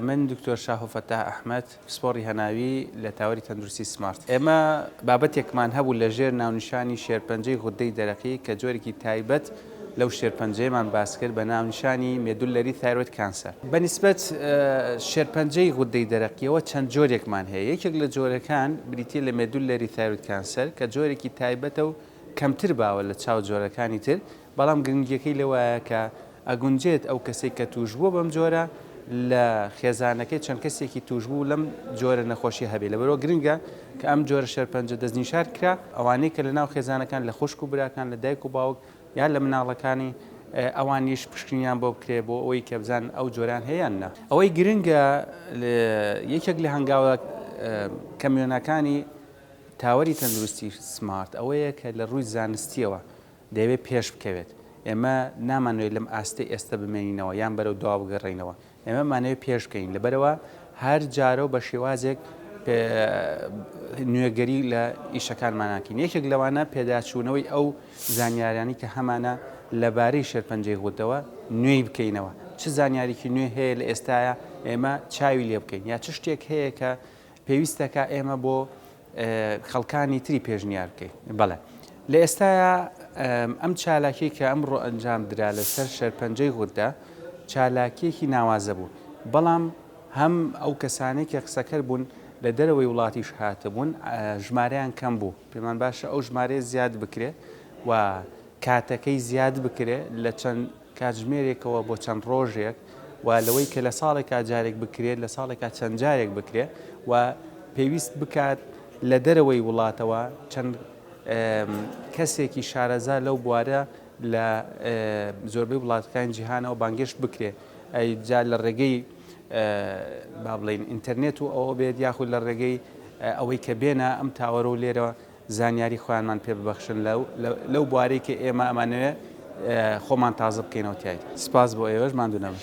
من دکتۆر شاهۆ فەتاح ئەحمەد، پسپۆڕی هەناوی لە تاوەری تەندروستی سمارت. ئێمە بابەتێکمان هەبوو لە ژێر ناونیشانی شێرپەنجەی غوددەی دەرەقی کە جۆرێکی تایبەت لەو شێرپەنجەیەمان باس کرد بە ناونیشانی Medullary Thyroid Cancer. بە نیسبەت شێرپەنجەی غوددەی دەرەقییەوە چەند جۆرێکمان هەیە. یەکێک لە جۆرەکان بریتییە لە Medullary Thyroid Cancer کە جۆرێکی تایبەتە و کەمتر باوە لە چاو جۆرەکانی تر، بەڵام گرنگییەکەی لەوایە کە ئەگونجێت ئەو کەسەی کە تووشبووە بەم جۆرە لە خێزانەکەی چەند کەسێکی تووشبوو لەم جۆرە نەخۆشییە هەبێت، لەبەرئەوە گرنگە کە ئەم جۆرە شێرپەنجە دەستنیشار کرا ئەوانەی کە لەناو خێزانەکان لە خوشک و براکان، لە دایک و باوک یان لە مناڵەکانی ئەوانیش پشکنینیان بۆ بکرێت بۆ ئەوەی کە بزانن ئەو جۆرەیان هەیە یان نا. ئەوەی گرنگە یەکێک لە هەنگاوە کەموێنەکانی تاوەری تەندروستی سمارت ئەوەیە کە لە ڕووی زانستییەوە دەیەوێت پێش بکەوێت، ئێمە نامانەوێت لەم ئاستەی ئێستە بمێنینەوە یان بەرەو دوا بگەڕێینەوە، ئێمە بمانەوێت پێش بکەوین، لەبەرئەوە هەر جارە و بە شێوازێک نوێگەری لە ئیشەکانمان ناکەین، یەکێک لەوانە پێداچوونەوەی ئەو زانیاریانەی کە هەمانە لەبارەی شێرپەنجەی غوددەوە نوێی بکەینەوە، چ زانیاریکی نوێ هەیە لە ئێستایا ئێمە چاوی لێ بکەین، یا چ شتێک هەیە کە پێویستە کا ئێمە بۆ خەڵکانی تری پێشنیار بکەین بەڵێ لە ئێستایا ئەم چالاکی کە ئەم ڕۆ ئەنجام درا لەسەر شەرپەنجەی غوددا چالاکیەکی ناوازە بوو بەڵام هەم ئەو کەسانێکی قسەکەر بوون لە دەرەوەی وڵاتیش هاتبوون ژمارەیان کەم بوو پێمان باشە ئەو ژمارەیە زیاد بکرێ و کاتەکەی زیاد بکرێ لە چەند کاتژمێرێکەوە بۆ چەند ڕۆژێک و لەوەی کە لە ساڵێکا جارێک بکرێت لە ساڵێکا چەند جارێک بکرێت و پێویست بکات لە دەرەوەی وڵاتەوە چەند کەسێکی شارەزا لەو بوارە لە زۆربەی وڵاتەکانی جیهانەوە بانگێشت بکرێت جا لە ڕێگەی با بڵین ئینتەرنێت و ئەوە بێت یاخود لە ڕێگەی ئەوەی کە بێنە ئەم تاوەرە و لێرەوە زانیاری خۆیانمان پێ ببەخشن لە لەو بوارەی کە ئێمە ئەمانەوێ خۆمان تازە بکەینەوە تیایدا. سپاس بۆ ئێوەش، ماندوو نەبن.